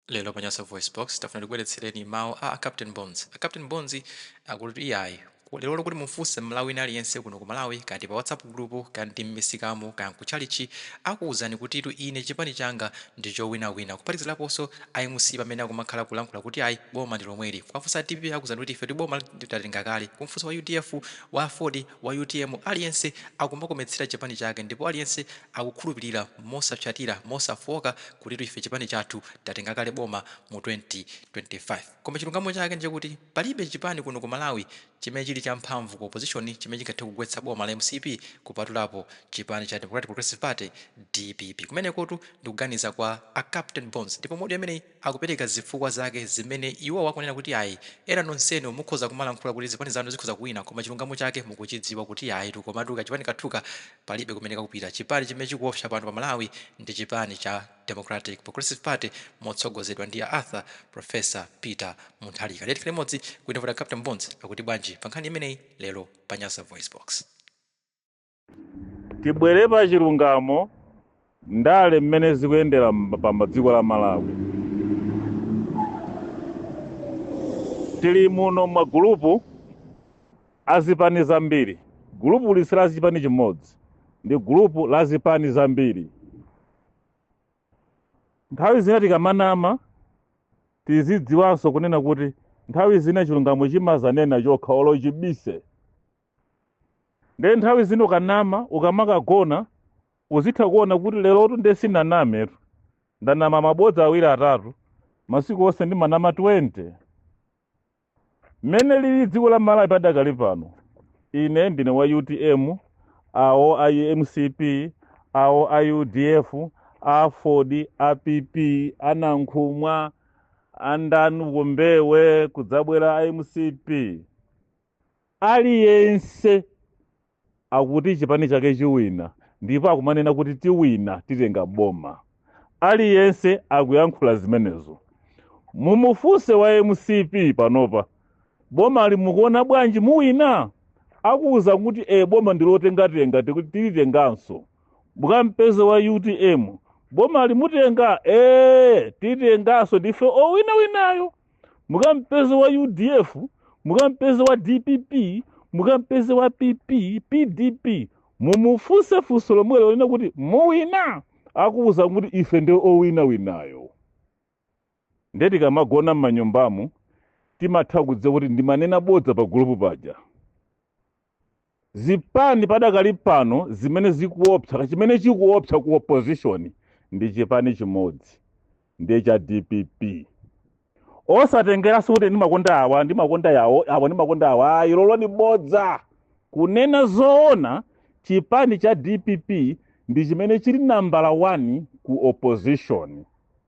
Lero pa Nyasa VoiceBox, tafuna tikubweretsereni mawu a a Captain Bones. A Captain Bones akuti iyayi, ku- lerolo kuti mufunse Mmalawi wina aliyense kuno ku Malawi, kaya ndi pa WhatsApp group, kaya ndi m'misikamu, kaya nkutchalitchi, akuwuzani kutitu ine chipani changa ndi chowinawina. Kuphatikizaponso a mcp amene akumakhala kulankhula kuti ayi, boma ndi lomweli. Kuwafunsa a dpp akuwuzani kuti ife boma tatenga kale. Kumfunsa wa udf, wa aford wa utm aliyense akumakometsera chipani chake ndipo aliyense akukhulupilira mosapsatira, mosafooka kutitu ife chipani chathu tatenga kale boma mu 2025. Koma chilungamo chake ndichakuti palibe chipani kuno ku Malawi chimene chili cha mphamvu ku opposition chimene chingathe kugwetsa boma la mcp kupatulapo chipani cha Democratic Progressive Party, dpp. Kumenekotu ndikuganiza kwa a Captain Bones ndipo mu audio imeneyi. akupereka zifukwa zake zimene iwowo akunena kuti ayi ena nonsenu mukhoza kumalankhula kuti zipani zanu zikhoza kuwina koma chilungamo chake mukuchidziwa kuti ayitu komatu kachipani kathuka palibe kumene kakupita. Chipani chimene chikuopsa pano pa Malawi ndi chipani cha Democratic Progressive Party motsogozedwa ndi a Arthur Professor Peter Mutharika. Tiyeni tikhale limodzi timve kuti a Captain Bones akuti bwanji pa nkhani imeneyi lero pa Nyasa VoiceBox. tibwere pa chilungamo ndale mmene zikuyendera mba- pa ma- dziko la malawi tili muno magulupu azipani zambiri gulupu ili si la chipani chimodzi ndi gulupu la zipani zambiri nthawi zina tikamanama tizidziwanso kunena kuti nthawi zina chilungamo chimazanena chokha olo uchibise nde nthawi zina ukanama ukamakagona uzitha kuona kuti lerotu nde sinanametu ndanama mabodza awiri atatu masiku onse ndimanama 20 mmene lili dziko la malawi padakali pano ine ndine wa utm awo a mcp awo a udf aford a pp anankhumwa andani Kuombewe kudzabwera a mcp Aliyense akuti chipani chake chiwina ndipo akumanena kuti tiwina titenga boma. Aliyense akuyankhula zimenezo. Mumufunse wa mcp panopa bomali mukuona bwanji muwina? Akuuza kuti ee boma ndilotengatenga tiku- tilitenganso. Mukampeze wa utm bomali mutenga ee titenganso ndife owinawinayo. mukampeze wa udf mukampeze wa dpp mukampeze wa pp pdp mumufunse funso lomwelo lonena kuti muwina akuwuza kuti ife ndi owinawinayo nde tikamagona m'manyumbamu timatha kudziwa kuti ndimanena bodza pa gulupu paja zipani padakali pano zimene zikuopsa chimene chikuopsa ku opposition ndi chipani chimodzi ndiye cha dpp osatengeranso kuti ndimakonda awa ndimakonda awo awa ndimakonda awa ayi ilolo ndi bodza kunena zoona chipani cha dpp ndi chimene chili nambala 1 ku opposition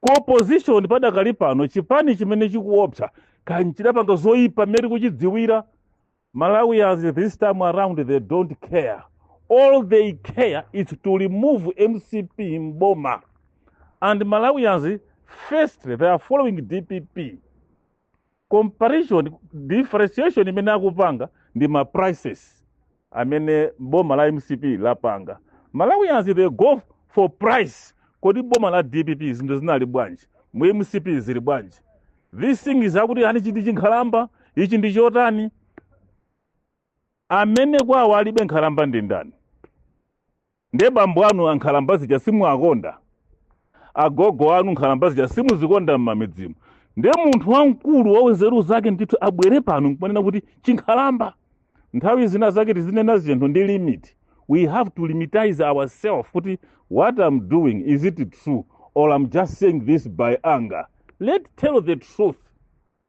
Ku opposition padakali pano chipani chimene chikuopsa kaya nchidapanga zoipa mmene tikuchidziwira. Malawians this time around they don't care. All they care is to remove mcp m'boma. And Malawians firstly they are following dpp. comparison differentiation imene akupanga ndi ma prices amene boma la mcp lapanga malawians they go for price kodi boma la dpp zinthu zinali bwanji mu mcp zili bwanji this thing is akuti ani nchichi nkhalamba ichi ndi chotani Amene kwawo alibe nkhalamba ndi ndani? Ndiye bambo anu ankhalamba aja simuwakonda? Agogo anu nkhalamba zija simuzikonda m'mamidzimu? Ndiye munthu wamkulu wa nzeru zake ndithu abwere pano nkumanena kuti chinkhalamba. Nthawi zina zake tizinena zinthu ndi limit. We have to limitize ourselves kuti what I'm doing is it true or I'm just saying this by anger. Let's tell the truth.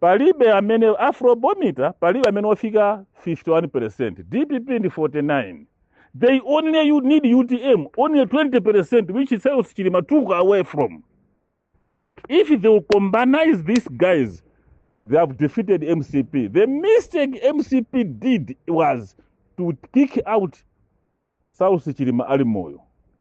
Palibe amene Afrobometer palibe amene wafika 51%. DPP ndi 49. They only you need UTM only 20% which is Saulos Chilima took away from. If they will combine these guys they have defeated MCP. The mistake MCP did was to kick out Saulos Chilima ali moyo.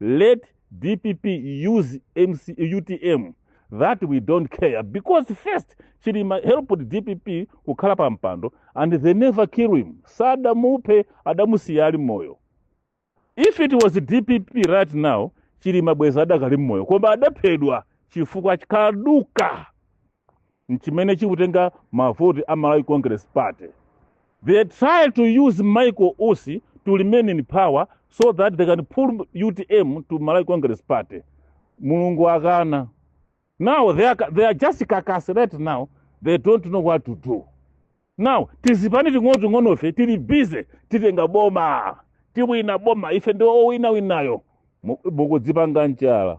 let dpp use utm that we don't care because first chilima helped dpp kukhala pa mpando and they never kill him sadamuphe adamusiya ali moyo if it was dpp right now chilima bwezi adakali mmoyo koma adaphedwa chifukwa cha kaduka nchimene chikutenga mavoti a Malawi Congress Party. They try to use Michael Usi to remain in power so that they can pull UTM to Malawi Congress Party. Mulungu akana. Now they are, they are just kakasilate now. They don't know what to do. Now tizipani ting'onoting'onofe tili busy titenga boma tiwina boma ife ndi owinawinawo Mu- mukudzipanga njala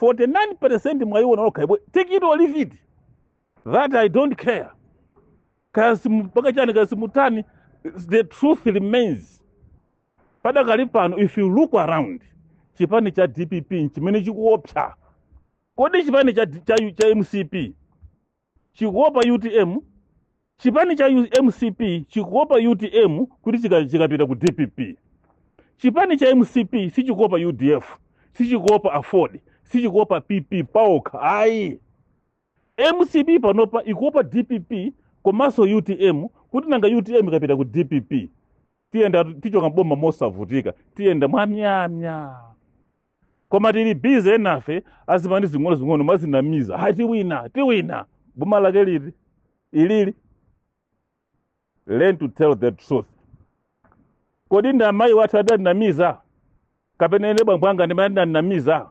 49% mwayiona okay take it or leave it that i don't care kaya mupanga chani kaya mutani the truth remains padakali pano if you look around chipani cha dpp nchimene chikuopsa kodi chipani cha, cha, cha mcp chikuopa utm, chipani cha mcp chikuopa utm kuti chika- chikapita ku dpp chipani cha mcp sichikuopa udf sichikuopa aford sichikuopa pp paokha ayi mcp panopa ikuopa dpp komanso utm kuti nanga utm ikapita ku dpp tiyenda tichoka mboma mosavutika tiyenda mwamyamya koma tili busy enafe a zipani zing'onozing'ono mwadzinamiza ha tiwina tiwina boma lake liti ilili learn to tell the truth kodi ndi amayi wathu adanamiza kapena ine bambo anga ndi amene adandinamiza